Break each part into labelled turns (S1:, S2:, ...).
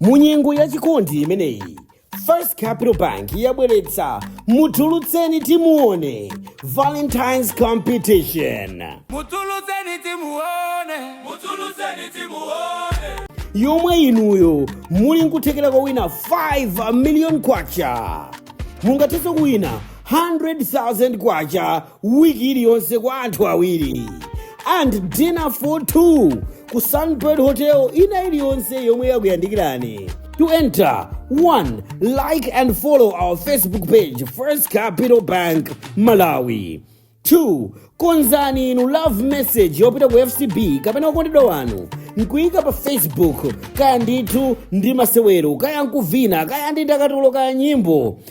S1: mu nyengo ya chikondi imeneyi first capital bank yabweretsa mutulutseni timuone valentines competition mutulutseni
S2: timuone mutulutseni timuone
S1: yomwe inuyo muli nkuthekera kuwina 5 million kwacha mungathenso kuwina 100,000 kwacha wiki iliyonse kwa anthu awiri and dinner for two ku sunbird hotel ina iliyonse yomwe yakuyandikirani to enter one like and follow our facebook page first capital bank malawi 2 konzani inu love message yopita ku fcb kapena okondedwa wanu nkuyika pa facebook kaya ndithu ndi masewero kaya nkuvina kaya ndi ndakatulo kaya nyimbo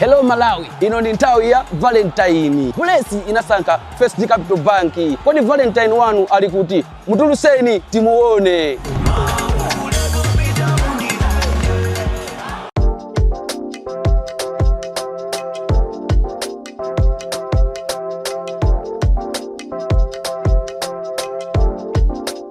S3: Hello Malawi, ino ni nthawi ya Valentine. Bulesi inasankha First Capital Bank. Kodi Valentine wanu ali kuti? Mutulutseni timuone.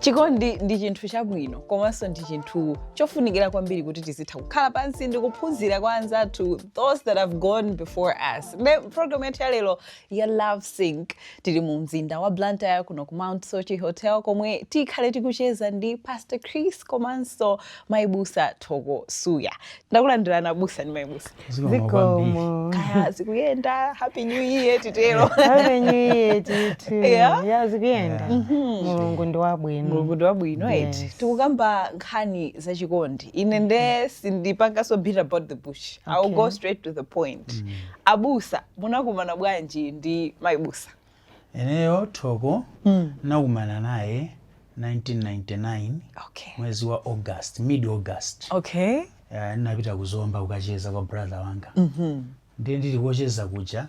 S4: chikondi ndi chinthu chabwino komanso ndi chinthu chofunikira kwambiri kuti tizitha kukhala pansi ndi kuphunzira kwa anzathu those that have gone before us nde program yathu yalero ya Love Sync. Tili mu mzinda wa Blantyre kuno ku Mount Soche Hotel komwe tikhale tikucheza ndi Pastor Chris komanso Mayi Busa Thoko Suya. Takulandirani abusa ndi Mayi Busa. Zikomo.
S5: Kaya zikuyenda
S4: Happy New Year titero. Happy New Year
S5: ndithu. Yeah. Ya zikuyenda. Mulungu ndi wabwino. Mulungu ndi wabwino
S4: eti. Yes. Tikukamba nkhani za chikondi. Ine nde sindipanganso beat about the bush. I'll Okay. go straight to the point. Abusa Munakumana bwanji ndi Mayi Busa?
S6: Ineyo Thoko ndinakumana naye 1999 Okay. mwezi
S4: wa August,
S6: mid August. Okay.
S4: Eh, ndinapita
S6: ku Zomba kukacheza kwa brother wanga. Ndiye ndili kucheza kuja,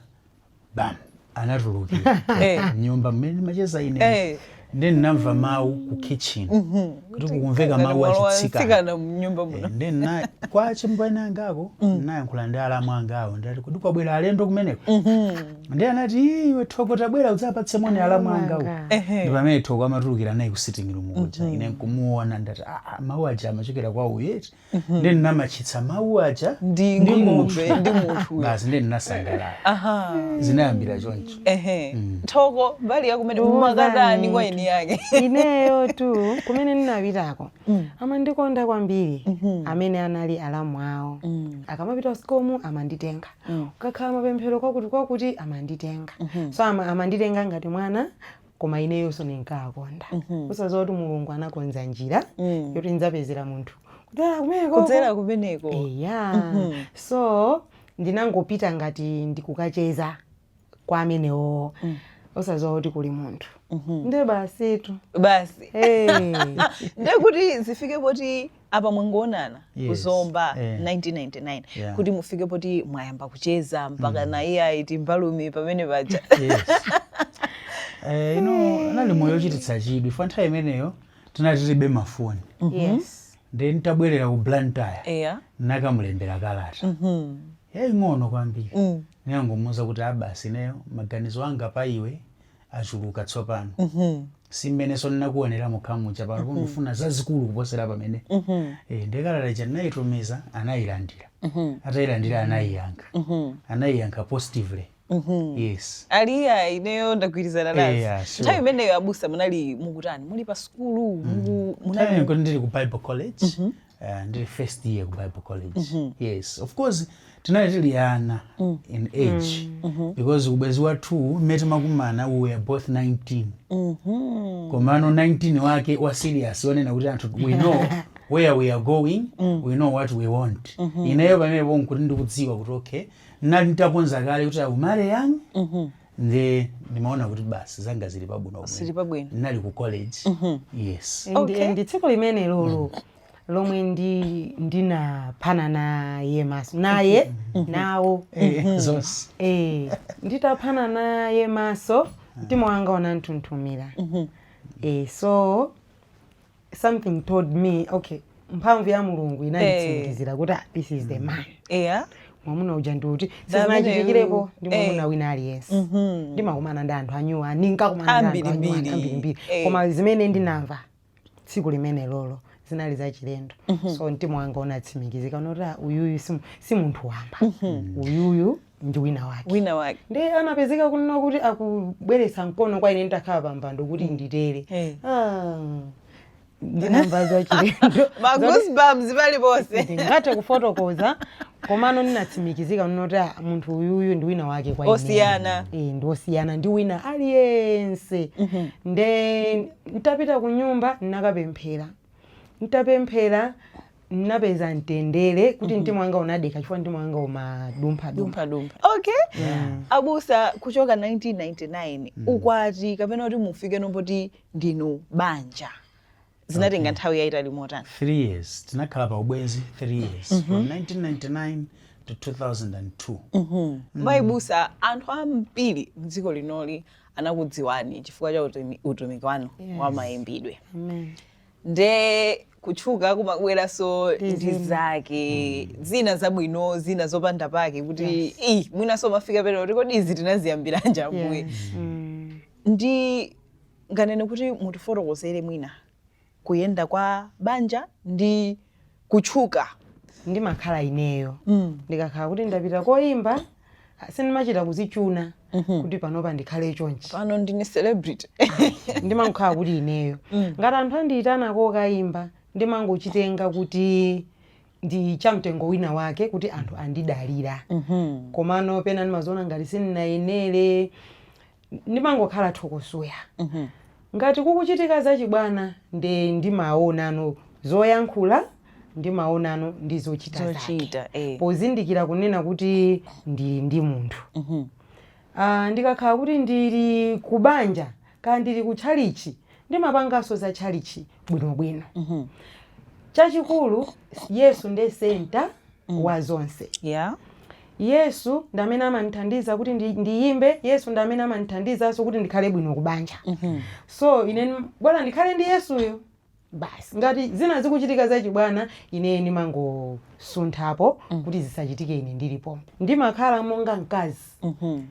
S6: bam, anatulukira Eh. nyumba mmene ndimacheza ine. Eh. nde ndinamva mawu ku kitchen mhm. kuti kukumveka mawu achitsikana mnyumba muno eh,
S4: nde ndinali kwa
S6: achimwene angako mm. ndinayankhula ndi alamu angawo ndati kodi kwabwera alendo kumeneko mhm. nde anati iwe thoko tabwera udzapatse moni oh alamu angawo ndi pamene thoko amatulukira naye ku sitting room kuja mhm. ine nkumuona ndati aa ah, ah, mawu aja amachokera kwa uyu eti ndi ndinamatchitsa mawu aja Ndi ndi ng'ombe,
S4: munthu ndi munthu. basi ndi
S6: ndinasangalala aha zinayambira choncho ehe thoko
S4: mbali yakumene Thoko munakatani mbali. kwa eni yake ineyo tu
S5: kumene ndinapitako amandikonda kwambiri amene anali alamu awo akamapita usikumu amanditenga ukakhala mapemphero kwakuti kwakuti amanditenga so ama, amanditenga ngati mwana koma ineyonso ndinkawakonda osaziwa kuti mulungu anakonza njira Mm. yoti ndidzapezera munthu kudzera kumeneko kudzera
S4: kumeneko eya
S5: so ndinangopita ngati ndikukacheza kwa amenewo osaziwa kuti kuli munthu nde basitu basi hey.
S4: ndekuti zifike poti apa mwangoonana yes. ku Zomba yeah. 1999 yeah. kuti
S6: mufike
S4: poti mwayamba kucheza mpaka mm. na iye ayiti mbalume pamene paja yes. eh,
S6: unali moyo ochititsa chidwi chifukwa nthawi imeneyo tinali tilibe mafoni
S5: mm -hmm. yes. then
S6: tabwerera ku blantyre yeah. nakamulembera kalata mm -hmm. yaing'ono kwambiri mm. ninangomuuza kuti a basi ah, ineyo maganizo anga pa iwe achuluka tsopano mm-hmm. si mmenenso ndinakuonera mokha muja pano mm-hmm. ndikufuna zazikulu kuposera pamenepo mm-hmm. e, nde kalata ija ndinayitumiza anayilandira mm-hmm. atayilandira anayiyankha mm-hmm. anayiyankha positively Mm-hmm. yes ali ya
S4: ineyo ndagwirizana eh, nazo yeah, sure. nthawi imeneyo abusa
S6: munali
S4: mukutani muli pa sukulu mm. munali
S6: ndili ku bible college mm-hmm. Uh, ndili first year ku bible college mm -hmm. yes of course tinali tili ana mm. in age mm -hmm. because ubwezi wathu mmene timakumana we were both 19 mm -hmm. komano 19 wake wa serious wonena kuti anthu we know where we are going mm. we know what we want mm -hmm. ineyo pamenepo nkuti ndikudziwa kuti okay ndinali nditakonza kale kuti ndi marry young mm -hmm. nde ndimaona kuti basi zanga zili pabwino bwino. Zili pabwino. ndinali ku college yes And- Okay. and tsiku
S5: limenelolo lomwe ndi ndinaphana naye maso naye nawo Eh,
S6: zonse
S5: Eh, nditaphana naye maso mtima wanga unanthunthumira Eh, so something told me okay mphamvu ya mulungu inanditsimikizira kuti ah, this is the man eya mwamuna uja ndi uti Ndamene sizinachitikirepo uyu. ndi mwamuna Eh. wina aliyense ndimakumana ndi anthu anyway ndinkakumana ndi anthu anyway Ambirimbiri. ambirimbiri Eh. koma zimene ndinamva tsiku limenelolo zinali zachilendo so mtima wanga unatsimikizika kuti "Ah, uyuyu si mu- si munthu wamba uyuyu ndi wina wake wina wake ndiye anapezeka kunena kuti akubweretsa mkono kwa ine nditakhala pa mpando kuti mm. nditere eh. ah, ndinamva zachilendo ma
S4: goosebumps paliponse ndingathe
S5: kufotokoza komano ndinatsimikizika kuti ah, munthu uyuyu ndi wina wake kwa ine osiyana e,
S4: ndi
S5: osiyana ndi wina aliyense mm -hmm. nde ntapita ku nyumba ndinakapemphera N'tapemphela, n'napeza mtendele kuti Mhm. mtima wanga unadekha chifukwa mtima wanga umadumpha-dumpha. dumphadumpha okay
S4: Yeah. abusa kuchoka 1999 Mm. ukwati kapena kuti mufikeno poti ndinu banja zinatenga Okay. nthawi yayitali motani Three years.
S6: Tinakhala pa ubwenzi three years. Mhm. From 1999 to 2002. Mhm. Mm. mai
S4: busa anthu ambiri mdziko linoli anakudziwani chifukwa cha utumi- utumiki wanu Yes. wa mayimbidwe Amen. nde kutchuka kumabweranso Ndi ndi zina. zake zina zabwino zina zopanda pake kuti Yes. "Ih, mwinanso mafika pena kuti kodi izi tinaziyambiranji Ambuye Yes. Mm. ndinganene kuti mutifotokozere mwina kuyenda kwa banja ndi kutchuka. ndimakhala
S5: ineyo. Ndikakhala kuti ndapita koimba, ah, sindimachita kuzichuna kuti panopa ndikhale chonchi. Pano ndine celebrity.
S4: Ayi, ndimangokhala
S5: kuti ineyo. Ngati anthu andiitana kokaimba, ndimangochitenga kuti ndi cha mtengo wina wake kuti anthu andidalira. Komano pena ndimaziona ngati sindinayenere, ndimangokhala Thoko Suya ngati kukuchitika zachibwana nde ndimaonano zoyankhula ndimaonano ndi zochita zake Zochita, eh. pozindikira kunena kuti ndili ndi munthu Ah, ndikakhala kuti ndili kubanja kaya ndili ku tchalichi ndimapanganso za tchalichi bwinobwino chachikulu yesu nde senta wa zonse yeah Yesu ndi amene amandithandiza kuti ndi- ndiyimbe yesu ndi amene amandithandizanso kuti ndikhale bwino kubanja so ine nim- bola ndikhale ndi yesuyo basi ngati zina zikuchitika zachibwana ine ndimangosunthapo kuti zisachitike ine ndilipo ndimakhala monga mkazi Mhm.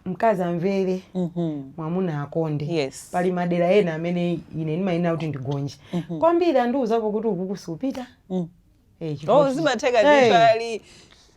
S5: mkazi amvere Mhm. mwamuna akonde Yes. pali madera ena amene ine ndimayenera kuti ndigonje kwambiri andiuzapo kuti ukuku siupita Mm. Eh, chifukwa
S4: Oh, kuti- zimatheka Eh, ndithu ali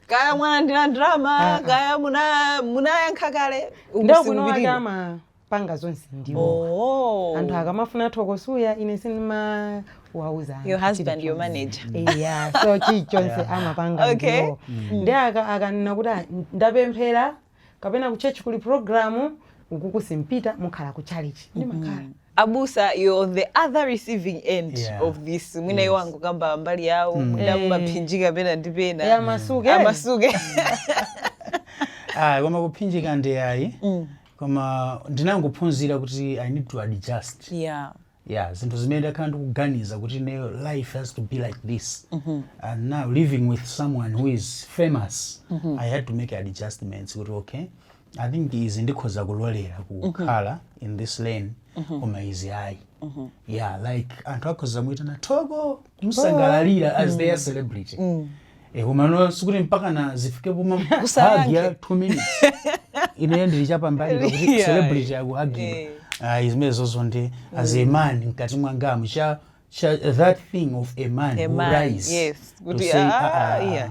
S4: kaya mwalandira ndalama kaya muna- munayankha kale ndi akunowa ati
S5: ukusikupitirira. amapanga zonse ndiwo Oh. anthu akamafuna Thoko Suya ine sindimawauza anthu Your husband,
S4: chili your chonse. manager. yeah so
S5: chilichonse amapanga Okay. ndiwo ndi aka- akanena kuti "Ah, ndapemphera kapena ku church kuli program ukuku simupita mukhala ku chalichi ndimakhala. Abusa you're
S4: on the other receiving end Yeah. of this mwina iwo Yes. angokamba mbali yawo mwina Eh. mumaphinjika pena ndi Eh, pena amasuke
S6: amasuke Ah, koma kuphinjika nde ayi koma ndinangophunzira kuti i need to adjust yeah yeah zinthu zimene ndakhala ndikuganiza kuti ineyo life has to be like this and now living with someone who is famous i had to make adjustments kuti okay i think izi ndikhoza kulolera kukhala in this lane koma izi ayi yeah like anthu akhoza muitana thoko kumusangalalira as their celebrity Eh, komano sikuti mpaka na zifike poma hug ya 2 minutes ineyo ndili chapambali kuti Yeah. celebrity akuhagira Eh. ayi zimenezozo nde as a man mkati mwangamu cha cha that thing of a man A man, would rise yes. to Kuti, say,
S4: ah, ah,
S6: ah,
S4: yeah.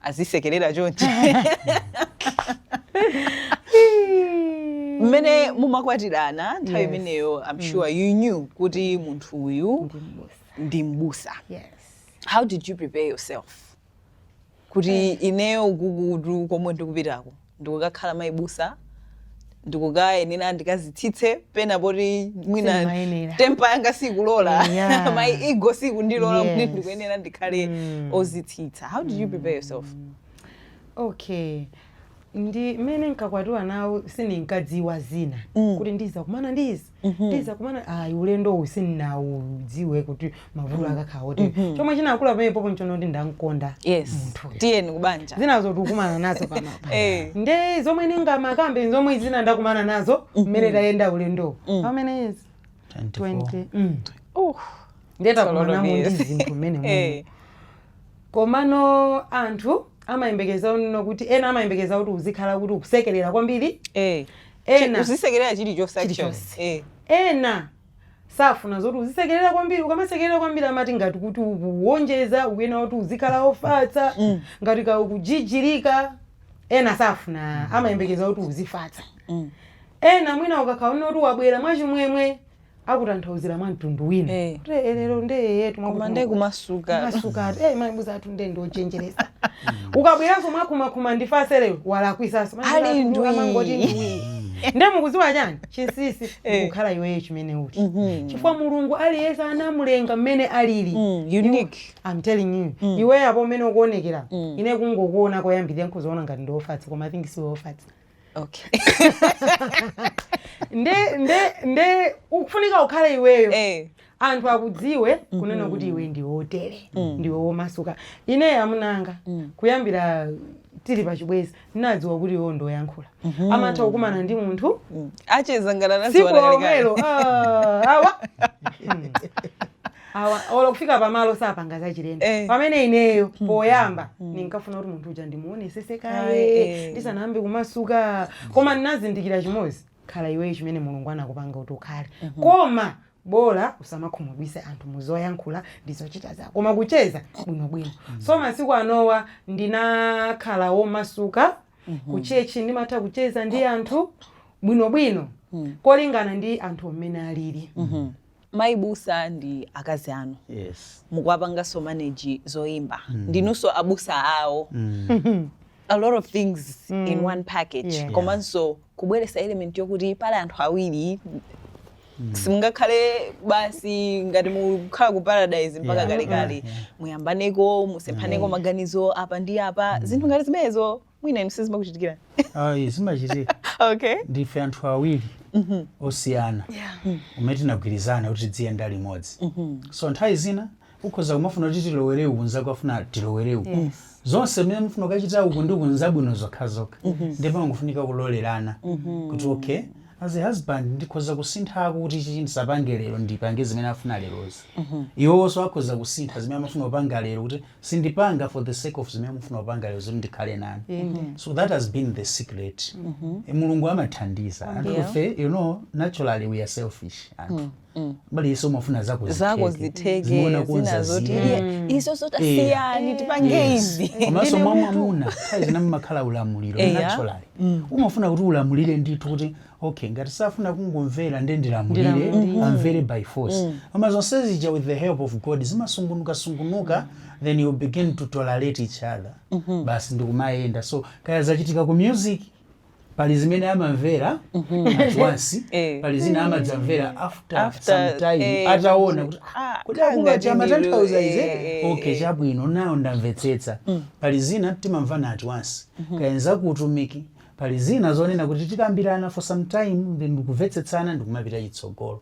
S4: azisekerera chonchi mmene mumakwatirana nthawi Yes. imeneyo i'm sure you knew kuti munthu uyu Ndi m'busa. ndi mbusa Yes.
S5: how did you
S4: prepare yourself kuti ineyo ukukutu komwe ndikupitako ndikukakhala mayi busa ndikukayenera ndikazitsitse pena poti mwina temper yanga sikulola Yeah. my ego sikundilola kuti Yes. ndikuyenera ndikhale Mm. ozitsitsa how did you prepare yourself
S5: okay ndi mmene nkakwatiwa nawo sindinkadziwa zina Mm. kuti ndizakumana ndizi ndizakumana ayi ulendo uwu sindinawudziwe kuti mavuto akakhala otere chomwe chinakula pamenepopo nchonena kuti ndamkonda yes munthu tiyeni
S4: kubanja zinazo tikukumana nazo
S5: pamapa Eh. nde zomwe ndingamakambe zomwe zina ndakumana nazo mmene tayenda ulendo pamene izi 24 20 mm. uh, nde takumanamo ndi zinthu mmenemuno eh, komano anthu amayembekeza you know kuti ena amayembekeza kuti uzikhala kuti ukusekerera kwambiri eh, ena uzisekerera
S4: chilichonse actually Chilichonse. eh
S5: ena safuna zoti uzisekerera kwambiri ukamasekerera kwambiri amati ngati kuti ukuwonjeza ukuyena kuti uzikhala ofatsa ngati ka ukujijirika ena safuna amayembekeza kuti uzifatsa ena mwina akakuona kuti wabwera mwachimwemwe akutanthauzira mwa mtundu wina Eh. kuti "Eh, lero nde eyetu koma nde
S4: kumasuka masuka ati eh mayi busa
S5: athu nde ndi ochenjeretsa ukabweranso mwakumakuma ndifatse lero walakwitsanso Mayi Ali busa athu ndwi. amangoti
S4: ndwi
S5: nde mukuziwa chani chinsisi Eh. kukhala iweyo chimene uli Mhm. chifukwa mulungu aliyense anamulenga mmene alili Mm, unique
S4: I'm telling you Mm.
S5: iweyo apo mmene ukuonekera Mm. ine kungokuona koyambirira nkuzoona ngati ndi ofatsa koma i think siwe ofatsa
S4: okay
S5: nde nde nde ukufunika ukhale iweyo eh anthu akudziwe kunena kuti iwe ndi wotere ndiwe womasuka ine amuna anga kuyambira tili pachibwezi ndinadziwa kuti iwo ndoyankhula amatha kukumana ndi munthu acheza ngati
S4: anadziwana kalekale tsiku
S5: lomwelo ah, awa awa olo kufika pamalo sapanga zachilendo Eh. pamene ineyo poyamba ndinkafuna kuti munthu uja ndimuonetsetse Aye, kaye eh. ndisanayambe kumasuka koma ndinazindikira chimodzi khala iweyo chimene mulungu anakupanga kuti ukhale koma bola usamakhumudwitse anthu muzoyankhula ndi zochita zako koma kucheza bwinobwino so masiku anowa ndinakhala womasuka kuchechi ndimatha kucheza ndi anthu bwinobwino kolingana ndi anthu mmene alili Mai
S4: Busa ndi akazi anu yes. mukuwapanganso manage zoimba mm. ndinunso abusa awo mm. a lot of things mm. in one package yeah. komanso kubweretsa element yokuti pali anthu awiri Mm. simungakhale basi ngati mukhala ku paradise mpaka yeah. kalekale yeah. muyambaneko musemphaneko mm. maganizo apa ndi apa mm. zinthu ngati zimenezo mwina inu sizimakuchitikira ayi
S6: zimachitika
S4: okay ndife anthu
S6: awiri osiyana amene tinagwirizana kuti tiziyenda limodzi so nthawi zina ukhoza kumafuna kuti tilowere uku nzako afuna tilowere uku zonse zimene mufuna kukachita uku ndi uku nzabwino zokhazokha ndipo pamafunika kulolerana kuti okay as a husband ndikhoza kusinthako kuti ichi ndisapange lero ndipange zimene afuna lerozo iwowonso akhoza kusintha zimene amafuna kupanga lero kuti sindipanga for the sake of zimene mufuna kupanga lero zoti ndikhale nanu Amen. so that has been the secret Eh, mulungu amathandiza anthufe Yeah. you know naturally we are selfish anthu by the way umafuna zako zako zitheke
S4: zimuona kunza zina zoti zina iye iso sotasiyani tipange izi komanso mwa mamuna
S6: nthawi zina mumakhala ulamuliro Eya. naturally umafuna kuti ulamulire ndithu kuti okay ngati safuna kungomvera nde ndilamulire Ndilamulire. amvere by force koma zonse zija with the help of god zimasungunukasungunuka then you begin to tolerate each other basi ndikumayenda so kaya zachitika ku music pali zimene amamvera at once Eh. pali zimene amadzamvera after, After, some time eh, ataona kuti ah, kuti kanga akunga ndindilo, chamatanthauza ize eh, eh, okay eh. chabwino nawo ndamvetsetsa pali zina timamvana at once kaya nza ku utumiki pali zina zonena kuti tikambirana for some time then ndikumvetsetsana ndikumapita chitsogolo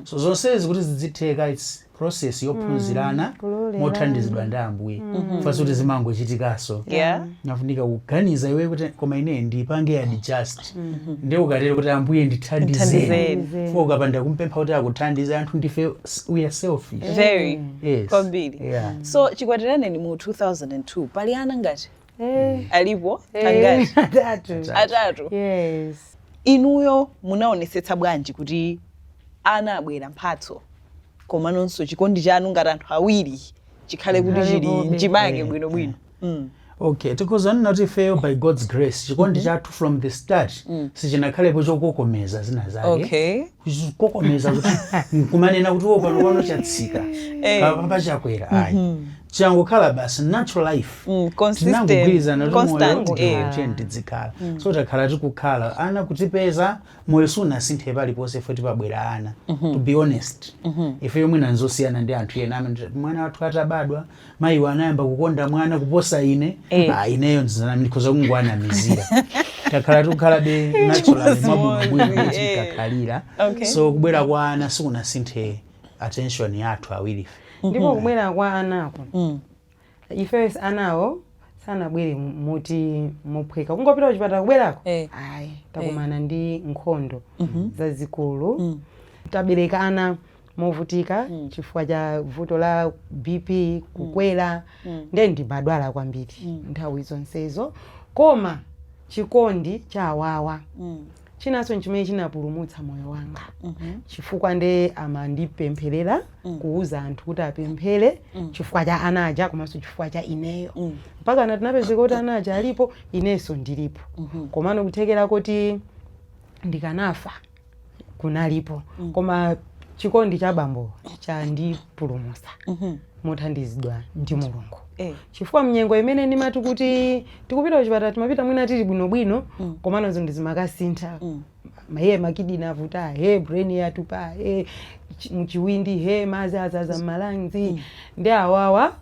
S6: so zonsezi kuti zidzitheka its process yophunzirana kulolerana. mothandizidwa ndi ambuye fo sikuti zimangochitikanso Yeah. umafunika kuganiza iwe kuti koma ine ndipange adjust nde ukatero kuti ambuye ndithandizeni Ndithandizeni. fo ukapanda kumpempha kuti akuthandize anthu ndife s- we are selfish Very. Yes.
S4: Kwambiri.
S6: Yeah.
S4: So chikwatirane ndi mu 2002 pali ana ngati Eh, alipo eh, angati atatu. atatu
S5: Yes.
S4: inuyo munaonesetsa bwanji kuti ana abwera mphatso koma nonso chikondi chanu ngati anthu awiri chikhale kuti chili mchimake Mm. bwinobwino Mm.
S6: okay tikudzanena kuti ifeyo by god's grace chikondi chathu from the start sichinakhalepo chokokomeza zina zake okay
S4: kukokomeza kuti
S6: nkumanena kuti wo panopa chatsika Eh. apapa chakwera ayi changokhala basi natural life Mm, consistent,
S4: tinangogwirizana kuti moyo constant, uti eh. moyo tiyeni
S6: tidzikhala so takhala tikukhala ana kutipeza moyo sunasinthe paliponse ife sipabwera ana to be honest ife yomwe n'zosiyana ndi anthu ena amene tati, mwana wathu atabadwa mayiwo anayamba kukonda mwana kuposa ine Eh. ah, ineyo ndikhoza kungoanamizira takhala tikukhala be natural Chimodzi, mwabwinobwino eh. tikakhalira Okay. so kubwera kwa ana sikunasinthe attention yathu awirife ndipo mm-hmm. kubwera
S5: kwa anako mm. ifeyo anawo sanabwere moti mophweka kungopita kuchipatala kubwerako eh. ayi takumana eh. ndi nkhondo mm-hmm. zazikulu mm. tabereka ana movutika mm. chifukwa cha vuto la bp mm. kukwera mm. mm. ndiye ndinkadwala kwambiri mm. nthawi zonsezo koma chikondi cha awawa mm. chinanso nchimene chinapulumutsa moyo wanga chifukwa nde amandipempherera kuuza anthu kuti apemphere chifukwa cha ana aja komanso chifukwa cha ineyo mpakana tinapezeka kuti ana aja alipo inenso ndilipo komano kuthekera kuti ndikanafa kunalipo koma chikondi cha bambo chandipulumutsa mothandizidwa ndi mulungu Eh. chifukwa mnyengo imene ndimati kuti tikupita kuchipatala timapita mwina tili bwinobwino mm. komano zinthu zimakasintha mm. maye makidini avuta he brain yatupa he m'chiwindi he madzi adzaza m'ma lungs mm. ndi awawa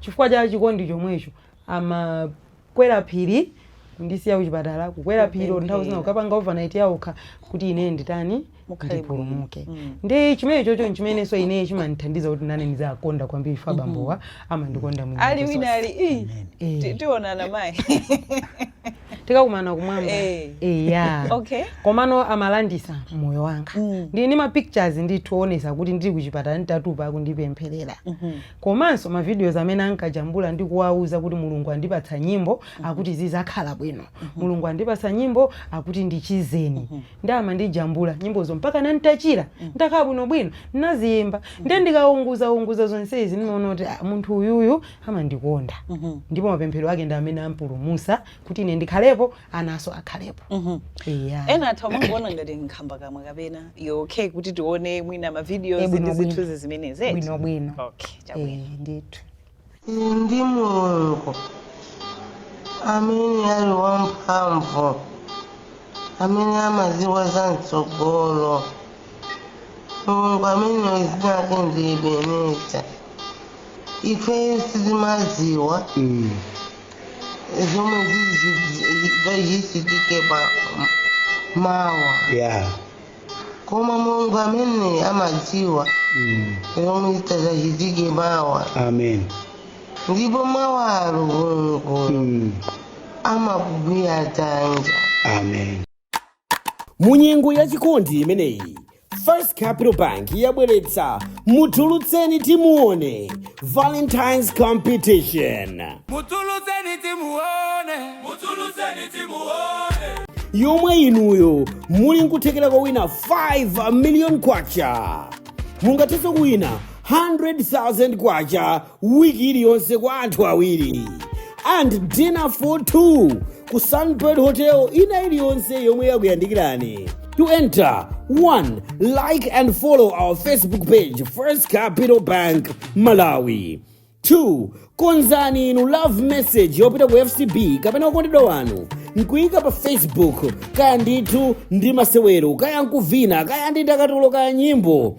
S5: chifukwa cha chikondi chomwecho amakwera phiri kundisiya kuchipatala kukwera phiri nthawi zina kukapanga overnight ya okha kuti ine nditani mukhale bwino ndipulumuke Mm. ndiye chimene chocho nchimenenso ineyo chimandithandiza kuti nane ndiziwakonda kwambiri ife abambowa amandikonda mu ali nyengo wina zonse. ali ii,
S4: Eh. ti- tionana mayi
S5: tikakumana kumwamba Eh. eya
S4: Okay. komano
S5: amalanditsa moyo wanga Mm. ndili ndi ma pictures ndikuonetsa kuti ndili kuchipatala nditatupa akundipempherera komanso ma videos amene ankajambula ndi kuwauza kuti mulungu andipatsa nyimbo akuti zizakhala bwino mulungu andipatsa nyimbo akuti ndichizeni ndiye amandijambula nyimbozo mpakana n'tachira n'takhala bwinobwino ndinaziyimba ndiye ndikawunguzawunguza zonsezi ndimaona kuti "Ah, munthu uyuyu amandikonda ndipo mapemphero ake ndi amene apulumutsa kuti ine ndikhalepo anaso akhalepo Eya. ena
S4: atha kumangoona ngati nkhambakamwa kapena iyo okay kuti tione mwina Eh, mavidiyozi ndi bwinobwino. zithunzi zimenezi bwinobwino okay
S5: chabwino Eh,
S4: ndithu
S5: Inde
S7: ndi Mulungu amene ali wamphamvu, amene amadziwa za mtsogolo. Mulungu ameneyo dzina lake ndi Ebeneza. Ife sitimadziwa Mm. zomwe zichitike pa mawa. Yeah. koma mulungu amene amadziwa Mm. zomwe zitadzachitike mawa amen
S6: ndipo
S7: mawalo mulungu Mm. amakugwira dzanja amen
S6: mu
S1: nyengo ya chikondi imeneyi first capital bank yabweretsa mutulutseni timuone Valentine's Competition
S2: Mutulutseni timuone, mutulutseni timuone. yomwe
S1: inuyo muli nkuthekera kowina 5 million kwacha mungathenso kuwina 100,000 kwacha wiki iliyonse kwa anthu awiri and dinner for 2 ku sunbird hotel ina iliyonse yomwe yakuyandikirani To enter, one, like and follow our Facebook page, First Capital Bank Malawi. Two, konzani inu love message yopita ku FCB kapena okondedwa wanu nkuyika pa Facebook kaya ndithu ndi masewero kaya nkuvina kaya ndi ndakatulo kaya nyimbo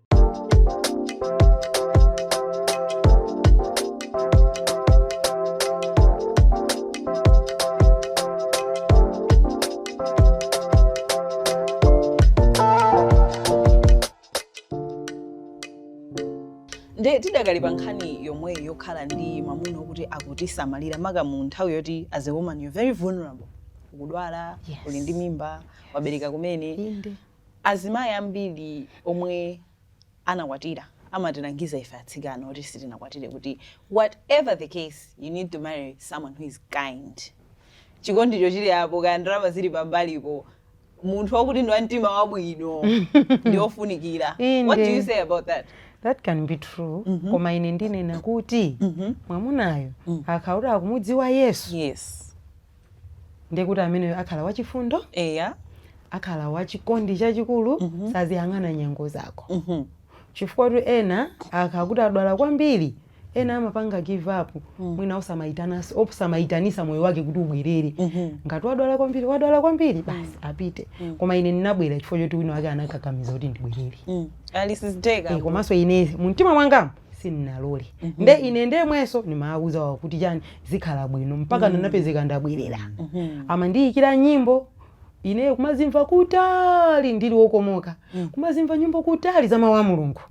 S4: nde tidakali pa nkhani yomweyi yokhala ndi mwamuna wokuti akutisamalira maka mu nthawi yoti as a woman you're very vulnerable ukudwala Yes. uli ndi mimba wabereka kumene Inde. Azimayi ambiri omwe anakwatira amatilangiza ife atsikana oti sitinakwatire kuti whatever the case you need to marry someone who is kind. Chikondicho chili apo kaya ndalama zili pambalipo munthu wakuti ndi wamtima wabwino ndi ofunikira. What do you say about that? That can be
S5: true mm -hmm. Koma ine ndinena kuti mm -hmm. mwamunayo mm. akakhala kuti akumudziwa Yesu yes. ndiye kuti ameneyo akhala wachifundo eya akhala wachikondi chachikulu mm -hmm. saziyang'ana nyengo zako mm -hmm. chifukwatu ena akakhala kuti adwala kwambiri ena amapanga give up mm. mwina osamayitananso osamayitanisa moyo wake kuti ubwerere mm -hmm. ngati wadwala kwambiri wadwala kwambiri mm. basi mm. apite mm. koma ine ndinabwera chifukwa choti wina wake anakakamiza kuti ndibwerere
S4: mm. Eh, komanso ine
S5: mumtima mwanga sinnalole nde ine ndemwenso ndimawuza wawo kuti chani zikhala bwino mpaka ndinapezeka ndabwerera amandiyikira nyimbo ine kumazimva kutali ndili wokomoka kumazimva nyimbo kutali za mawu a mulungu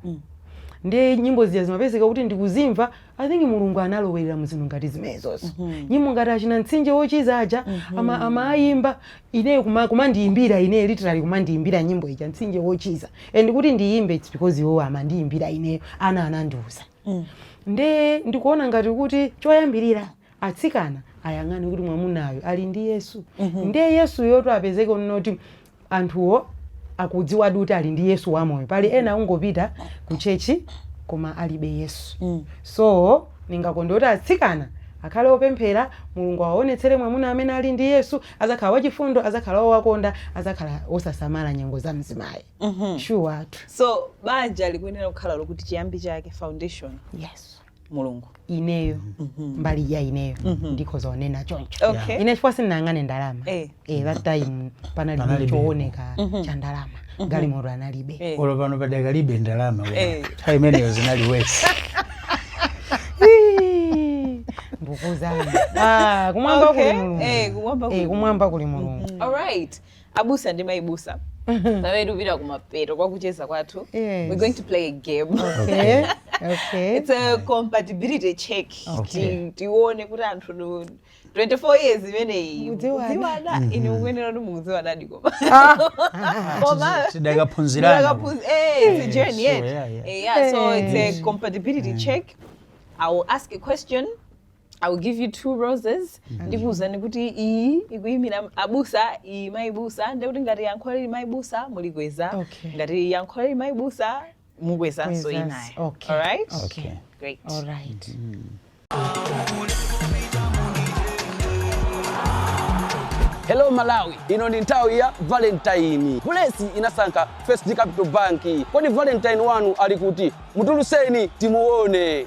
S5: ndiye nyimbo zija zimapezeka kuti ndikuzimva i think mulungu analowerera mu zinthu ngati zimenezozo nyimbo ngati achina mtsinje wochiza aja ama- amayimba ine kumandiyimbira ine literally kumandiyimbira nyimbo ija mtsinje wochiza and kuti ndiyimbe it's because iwo amandiyimbira ineyo ana anandiuza nde ndikuona ngati kuti choyambirira atsikana ayang'ane kuti mwamunayo ali ndi yesu nde yesuyo to apezeke kunena kuti anthuwo akudziwadi kuti ali ndi yesu wamoyo pali ena akungopita ku chechi koma alibe yesu so ndingakonde kuti atsikana akhale opemphera mulungu awaonetsere mwamuna amene ali ndi yesu adzakhala wachifundo adzakhala wowakonda adzakhala wosasamala nyengo za mzimayi sure tu so
S4: banja likuyenera kukhala lokuti chiyambi chake foundation yes mulungu
S5: ineyo mbali ya ineyo ndikhoza kunena choncho Okay. ine chifukwa sindinayang'ane ndalama Eh. eh, that time panali Panalibe. chooneka cha ndalama galimoto analibe Eh. olo pano
S6: padakalibe ndalama wena. Eh. nthawi imeneyo zinali
S5: wesi ndikuuzani Ah, kumwamba kuli Okay. mulungu Eh, kumwamba kuli Eh, kumwamba kuli mulungu
S4: alright abusa ndi mayibusa pamene tikupita kumapeto kwakucheza kwathu Yes. we're going to play a game okay
S5: okay it's a
S4: compatibility check Okay. Ti- tione kuti anthu nu- 24 years imeneyi Mukudziwana. mukudziwana Mhm. inde mukuyenera kuti mukudziwanadi koma
S6: Koma- tidakaphunzirana Tidakaphunzi- eh, it's a Eh,
S4: journey, sure, yeah. yeah, yeah. Eh, yeah, so Eh. it's a compatibility check i will ask a question i will give you two roses ndikuuzani kuti iyi ikuyimira abusa iyi mayibusa ndekuti ngati yankho lili mayibusa mulikweza Okay. ngati yankho lili mayibusa mukwezanso Kwezanso, inayo okay. alright Okay. great All
S5: right.
S3: Hello Malawi, ino ndi nthawi ya Valentine. Bulesi inasankha First Capital Bank. Kodi Valentine wanu ali kuti? Mutulutseni timuone.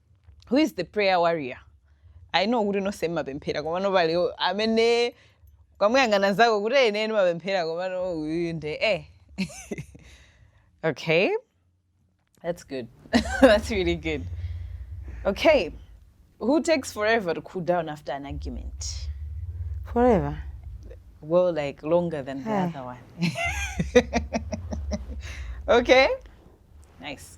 S4: who is the prayer warrior i know kuti nonse mmapemphera komano pali amene ukamuyang'ana mzako kuti ine ndimapemphera komano uyu nde eh okay that's good that's really good okay who takes forever to cool down after an argument forever well like longer than the Eh. other one okay nice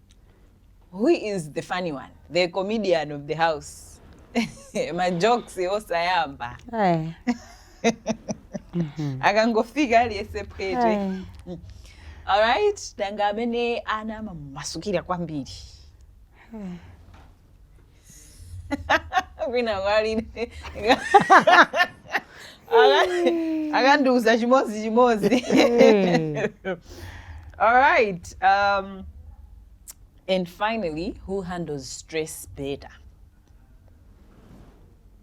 S4: who is the funny one the comedian of the house majokes osayamba Ayi. akangofika aliyese phwete Ayi. alright nanga amene ana amamasukira kwambiri wina walide akandiuza chimodzi chimodzi Eh. all right um, and finally who handles stress better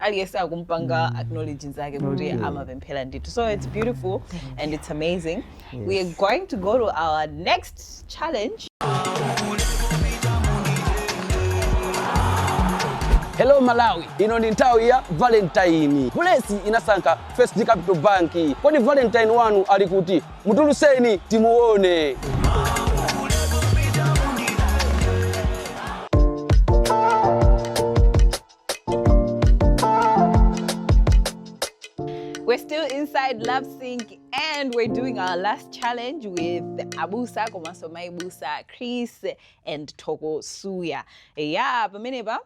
S4: aliyense akumpanga acknowledge nzake kuti amapemphera ndithu so it's beautiful and it's amazing we are going to go to our next challenge
S3: hello malawi ino ndi nthawi ya valentine bulesi inasankha first capital bank kodi valentine wanu ali kuti mutuluseni timuone
S4: We're still inside Love Sync and we're doing our last challenge with Abusa komanso Mayibusa, Chris and Thoko Suya. Yeah, pamenepa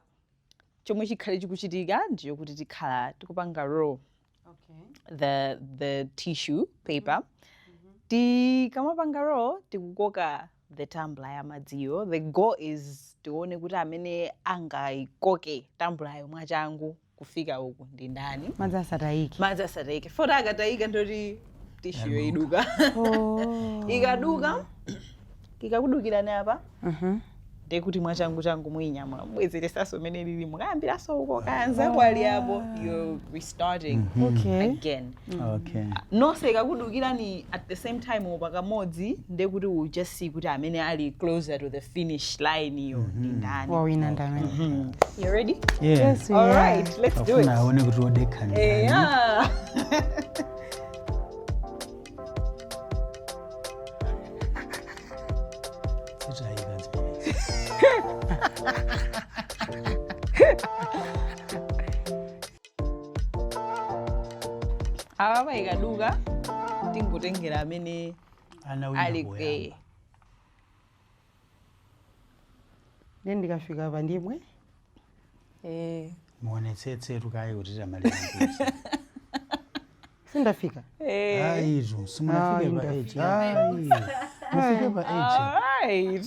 S4: chomwe chikhale chikuchitika ndi chokuti tikhala tikupanga roll okay. the, the tissue paper mm -hmm. tikamapanga roll tikukoka the tumbler ya madziyo the goal is tione kuti amene angaikoke tambulayo mwachangu kufika uku ndi ndani madzi asatayike
S5: madzi asatayike
S4: fota akatayika ndoti tishuyo iduka oh.
S5: ikaduka
S4: ikakudukirani apa ndiye
S5: kuti mwachangu
S4: changu muyinyamula mubwezeresanso mmene ilili mukayambiranso uko kaya nzako ali apo you're restarting Okay. again okay
S6: nonse
S4: ikakudukirani at the same time pakamodzi ndiye kuti we just see kuti amene ali closer to the finish line iyo ndi ndani wawina
S5: ndamene Mhm. you
S4: ready yeah yes we all are.
S6: right
S5: let's do it
S4: afuna
S5: aone
S4: kuti odekha
S6: ndi ndani.
S4: yeah apa ikaduka tingotengera amene Ana wina ali
S6: poyamba. kweyo
S5: ndiye ndikafika apa ndimwe eh
S6: muonetsetse tukaye kuti tamaliza kuti
S5: sindafika eh ayi
S6: izo simunafike pa Ayi, 8 ayi mufike pa 8 alright